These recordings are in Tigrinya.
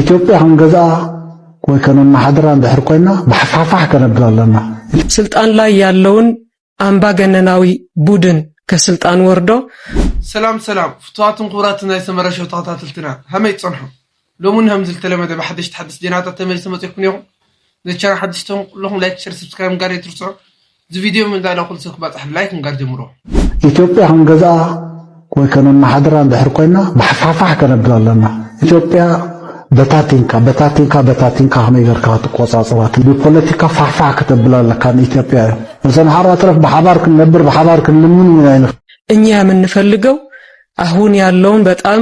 ኢትዮጵያ ክንገዝኣ ወይ ከነመሓድራ እንድሕር ኮይና ብሓፋሕፋሕ ከነብል ኣለና ኢሉ። ስልጣን ላይ ያለውን ኣምባገነናዊ ቡድን ከስልጣን ወርዶ። ሰላም ሰላም ፍቱዋትን ክቡራትን ናይ ሰመረ ሸው ተኸታተልትና ሃመይ ትጸንሑ ሎሚ ውን ሃምዚ ዝተለመደ ብሓደሽቲ ሓደስቲ ዜናታት ተመሊሰ መጺኤልኩም ኔኹም ነዚ ቻናል ሓደሽቲ ተኹም ኩለኹም ላይክ ሸር ሰብስክራይብ ምግባር ኣይትርስዑ እዚ ቪድዮ ምንጋዳ ኩሉ ሰብ ክባጻሕ ብላይክ ምንጋድ ጀምሮ። ኢትዮጵያ ክንገዝኣ ወይ ከነመሓድራ እንድሕር ኮይና ብሓፋሕፋሕ ከነብል ኣለና። ኢትዮጵያ በታቲንካ በታቲንካ በታቲንካ ከመይ ጌርካ ክትቆጻጽራ ብፖለቲካ ፋሕፋሕ ከተብላ ኣለካ ንኢትዮጵያ እዩ። ምስ ኣምሓራ ትረፍ ብሓባር ክንነብር ብሓባር ክንልምን እውን ኣይንኽእል። እኛ የምንፈልገው ኣሁን ያለውን በጣም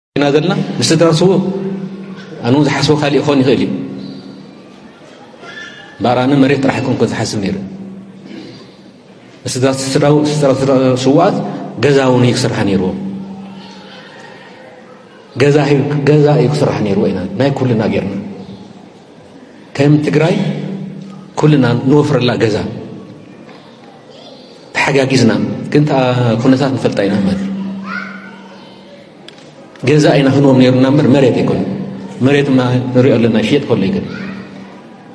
ኢና ዘለና ምስ ትትራስዎ ኣነ ውን ዝሓስቦ ካልእ ይኾን ይኽእል እዩ እምበኣር ኣነ መሬት ጥራሕ ይኮን ኮ ዝሓስብ ነይሩ ስዋኣት ገዛ ውን እዩ ክስራሕ ነይርዎ ገዛ እዩ ክስራሕ ነይርዎ ኢና ናይ ኩልና ጌርና ከም ትግራይ ኩልና ንወፍረላ ገዛ ተሓጋጊዝና ግን ኩነታት ንፈልጣ ኢና ማለት ገዛ ኢና ክንዎም ነይሩና እምበር መሬት ኣይኮነ መሬት ማ ንሪኦ ኣለና ይሽየጥ ከሎ ይገ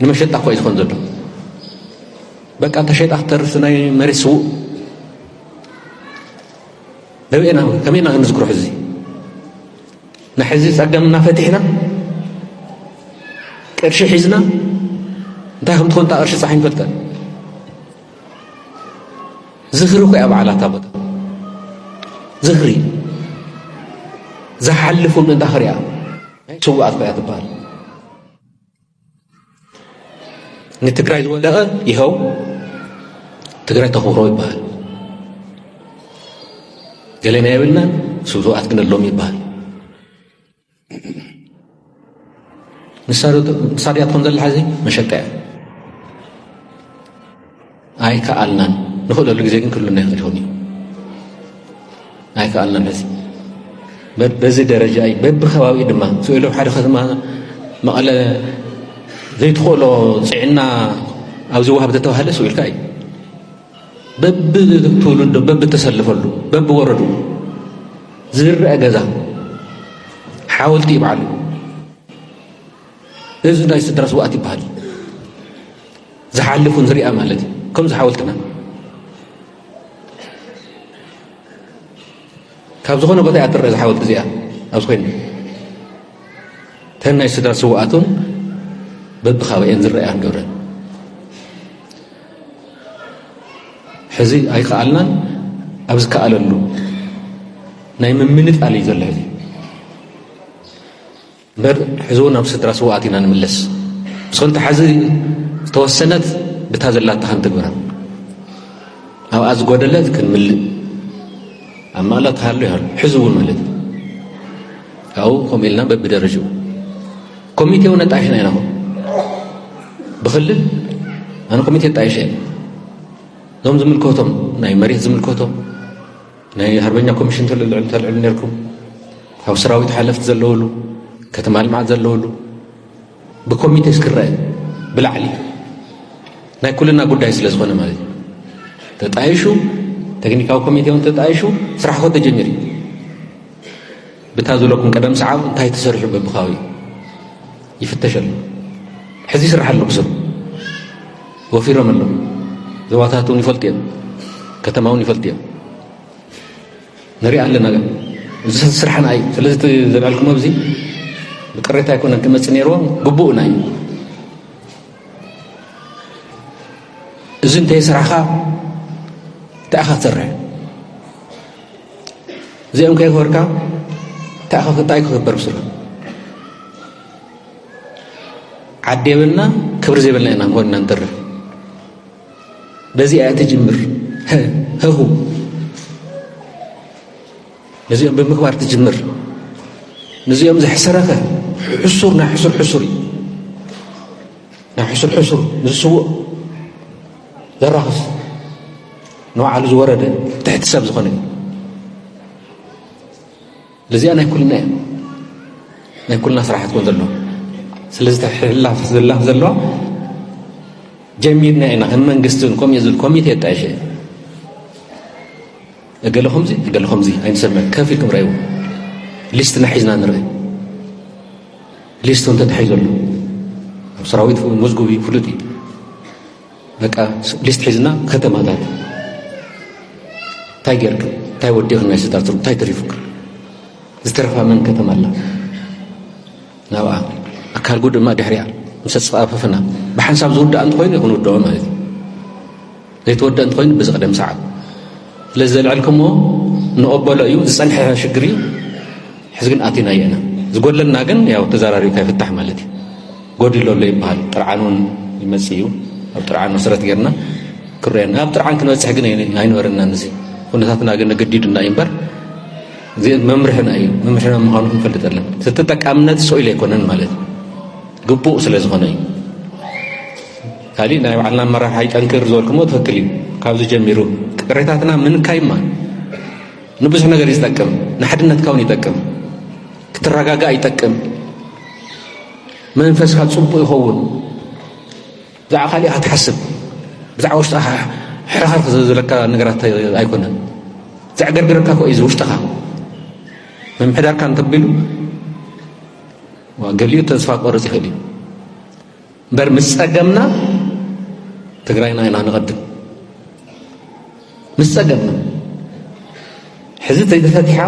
ንመሸጣ እኳ እዩ ዝኾን ዘሎ በቃ ተሸጣ ክተርፍ ናይ መሬት ስውእ ደበና ውን ከመይ ኢና ክንዝክሮ ሕዚ ንሕዚ ጸገምና ፈቲሕና ቅርሺ ሒዝና እንታይ ከም ትኾን እታ ቅርሺ ጻሕ ንፈልጠን ዝኽሪ ኮይ ኣብ ዓላታ ቦታ ዝኽሪ ዝሓልፉ ምእንታ ክሪያ ናይ ስዋኣት ኮያ ትበሃል ንትግራይ ዝወደቐ ይኸው ትግራይ ተኽብሮ ይበሃል። ገሌና የብልናን ስብዙኣት ግን ኣሎም ይበሃል። ንሳድያትኩም ዘላ ሕዚ መሸጣ እያ። ኣይከኣልናን ንኽእለሉ ግዜ ግን ክህሉና ይኽእል ይኹን እዩ ኣይከኣልናን ሕዚ በዚ ደረጃ እዩ በብከባቢኡ ድማ ስኢሉ ሓደ ከተማ መቐለ ዘይትኽእሎ ፅዕና ኣብዚ ዋሃብ ተተባሃለ ስኢልካ እዩ በብትውልዶ በብተሰልፈሉ በብወረዱ ዝርአ ገዛ ሓወልቲ ይበዓሉ እዚ ናይ ስድራ ስውኣት ይበሃል ዝሓልፍ ውን ዝርኣ ማለት እዩ ከምዚ ሓወልትና ካብ ዝኾነ ቦታ እያ ትረአ ዝሓወልቲ እዚኣ ኣብዚ ኮይኑ ተን ናይ ስድራ ስውኣት ውን በብካባኤን ዝረኣያ ንገብረ ሕዚ ኣይከኣልናን ኣብ ዝከኣለሉ ናይ ምምንጣል እዩ ዘሎ ሕዚ እምበር ሕዚ እውን ናብ ስድራ ስውኣት ኢና ንምለስ ምስ ክልተ ሓዚ ዝተወሰነት ብታ ዘላታ ክንትግብራ ኣብኣ ዝጎደለት ክንምልእ ኣብ መቕለ ተሃሉ ይሃሉ ሕዚ እውን ማለት እዩ ካብኡ ከምኡ ኢልና በብደረጅኡ ኮሚቴ እውን ኣጣይሽና ኢና ኹ ብክልል ኣነ ኮሚቴ ኣጣይሸ እዞም ዝምልከቶም ናይ መሬት ዝምልከቶም ናይ ሃርበኛ ኮሚሽን ተልዕሉ ተልዕሉ ነርኩም ካብ ሰራዊት ሓለፍቲ ዘለውሉ ከተማ ልምዓት ዘለውሉ ብኮሚቴ ስክረአ ብላዕሊ ናይ ኩልና ጉዳይ ስለ ዝኾነ ማለት እዩ ተጣይሹ ቴክኒካዊ ኮሚቴ እውን ተጣይሹ ስራሕ ኮ ተጀሚሩ ብታ ዝለኩም ቀደም ሰዓብ እንታይ ተሰሪሑ በብካዊ ይፍተሽ ኣሎ ሕዚ ይስራሕ ኣሎ ብስሩ ወፊሮም ኣለዉ ዞባታት እውን ይፈልጡ እዮም ከተማ እውን ይፈልጡ እዮም ንሪኣ ኣለና ግን እዚ ስራሕና እዩ ስለዚ ዘልዕልክሞ እዚ ብቅሬታ ኣይኮነን ክመፅእ ነይርዎ ግቡእና እዩ እዚ እንተይ ስራሕኻ እንታይ ኢኻ ትሰርሕ እዚኦም ከይክበርካ እንታይ ኢኻ እንታይ ክኽበር ብስሎ ዓዲ የብልና ክብሪ ዘይብልና ኢና ንኾንና ንተርፍ በዚኣ እያ ትጅምር ህሁ ነዚኦም ብምግባር ትጅምር ነዚኦም ዘሕሰረኸ ሕሱር ናይ ሕሱር ሕሱር እዩ ናይ ሕሱር ሕሱር ንዝስውእ ዘራኽስ ንባዕሉ ዝወረደ ትሕቲ ሰብ ዝኾነ እዩ ለዚኣ ናይ ኩልና እያ ናይ ኩልና ስራሕ ክትኮን ዘለዎ ስለዚ ተሕላፍ ዘላ ዘለዋ ጀሚርና ኢና ከም መንግስቲ እውን ከምኡ ዝብል ኮሚቴ የጣየሸ እገለ ከምዚ እገለ ከምዚ ኣይንሰምዕ ከፍ ኢልኩም ረእይዎ ሊስትና ሒዝና ንርኢ ሊስቱ እንተ ተሒዘሉ ኣብ ሰራዊት መዝጉብ እዩ ፍሉጥ እዩ በቃ ሊስት ሒዝና ከተማታት እንታይ ጌርክ እንታይ ወዲኽ ናይ ስዳትሩ እንታይ ተሪፉክ ዝተረፋ መን ከተማ ኣላ ናብኣ ኣካልጉ ድማ ድሕሪያ ምስ ኣፅፋፈፍና ብሓንሳብ ዝውዳእ እንተኮይኑ ክንውድኦ ማለት እዩ ዘይተወደእ እንተኮይኑ ብዝቕደም ሰዓብ ስለዚ ዘልዐልክሞ ንቕበሎ እዩ ዝጸንሐ ሽግር እዩ ሕዚ ግን ኣቲናዮ ኢና ዝጎድለና ግን ያው ተዘራሪብካ ይፍታሕ ማለት እዩ ጎዲሎ ኣሎ ይበሃል ጥርዓን እውን ይመጽእ እዩ ኣብ ጥርዓን መሰረት ጌርና ክረየና ኣብ ጥርዓን ክንበጽሕ ግን ኣይነበረናን እዚ ኩነታትና ግን ገዲዱና እዩ እምበር መምርሕና እዩ መምርሕና ምዃኑ ክንፈልጥ ኣለን እቲ ተጠቃምነት ስኢሉ ኣይኮነን ማለት ግቡእ ስለ ዝኾነ እዩ ካሊእ ናይ ባዕልና ኣመራርሓ ይጠንክር ዝበልኩሞ ትክክል እዩ ካብዚ ጀሚሩ ቅሬታትና ምንካይማ ንብዙሕ ነገር ይዝጠቅም ንሓድነትካ ውን ይጠቅም ክትረጋጋእ ይጠቅም መንፈስካ ፅቡቅ ይኸውን ብዛዕባ ካሊእ ክትሓስብ ብዛዕባ ውሽጥኻ ሕርኽርክ ዘለካ ነገራት ኣይኮነን ዘዕገርግረካ ኮ እዩ ውሽጥኻ ምምሕዳርካ እንተቢሉ ገሊኡ ተስፋ ክቆርፅ ይኽእል እዩ እምበር ምስ ጸገምና ትግራይና ኢና ንቐድም ምስ ጸገምና ሕዚ ተፈቲሓ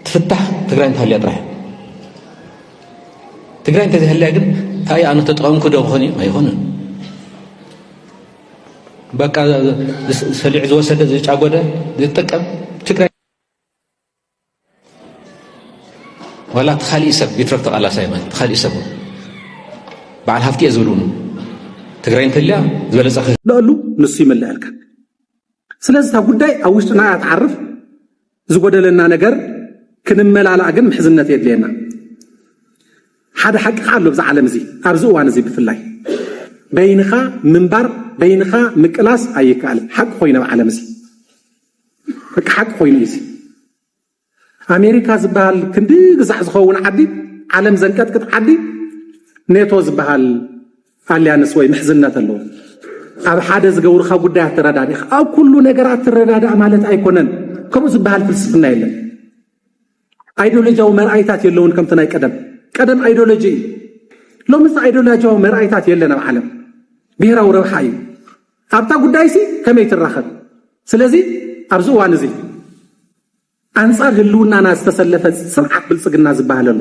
ትፍታሕ ትግራይ እንተሃልያ ጥራሕ ትግራይ እንተዘይሃልያ ግን እንታይ ኣነ ተጠቐምኩ ዶ ክኾን እዩ ኣይኮነን በቃ ሰሊዑ ዝወሰደ ዝጫጎደ ዝጥቀም ትግራይ ዋላ እቲ ካሊእ ሰብ ይትረፍ ተቓላሳይ ማለት እቲ ካሊእ ሰብ በዓል ሃፍቲ እየ ዝብልውን ትግራይ እንተልያ ዝበለፀ ክህለሉ ንሱ ይምልአልካ ስለዚ እታ ጉዳይ ኣብ ውሽጥና እያ ትዓርፍ ዝጎደለና ነገር ክንመላላእ ግን ምሕዝነት የድልየና ሓደ ሓቂ ከዓ ኣሎ ብዛ ዓለም እዚ ኣብዚ እዋን እዚ ብፍላይ በይንኻ ምንባር በይንኻ ምቅላስ ኣይከኣልን ሓቂ ኮይኑ ኣብ ዓለም እዚ በቃ ሓቂ ኮይኑ እዩ ኣሜሪካ ዝበሃል ክንዲ ግዛዕ ዝኸውን ዓዲ ዓለም ዘንቀጥቅጥ ዓዲ ኔቶ ዝበሃል ኣልያንስ ወይ ምሕዝነት ኣለዎ ኣብ ሓደ ዝገብሩካ ጉዳይ ኣተረዳዲኻ ኣብ ኩሉ ነገራት ትረዳዳእ ማለት ኣይኮነን ከምኡ ዝበሃል ፍልስፍና የለን ኣይዶሎጂያዊ መርኣይታት የለውን ከምቲ ናይ ቀደም ቀደም ኣይዶሎጂ እዩ ሎምስ ኣይዶሎጂያዊ መርኣይታት የለን ኣብ ዓለም ብሄራዊ ረብሓ እዩ ኣብታ ጉዳይ ሲ ከመይ ትራኸብ ስለዚ ኣብዚ እዋን እዚ ኣንጻር ህልውናና ዝተሰለፈ ስርዓት ብልፅግና ዝበሃል ኣሎ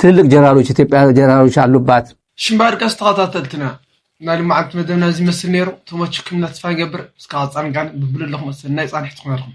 ትልልቅ ጀራሎች ኢትዮጵያ ጀራሎች ኣሉባት። ሽምባ ድቃስ ተኸታተልትና ናይ ልማዓንቲ መደብና እዚ ይመስል ነይሩ ተመችኩም ኢና ተስፋ ንገብር እስካብ ፃንቃን ብብሉ ኣለኹም ሰናይ ፃንሒት ክኾነልኩም።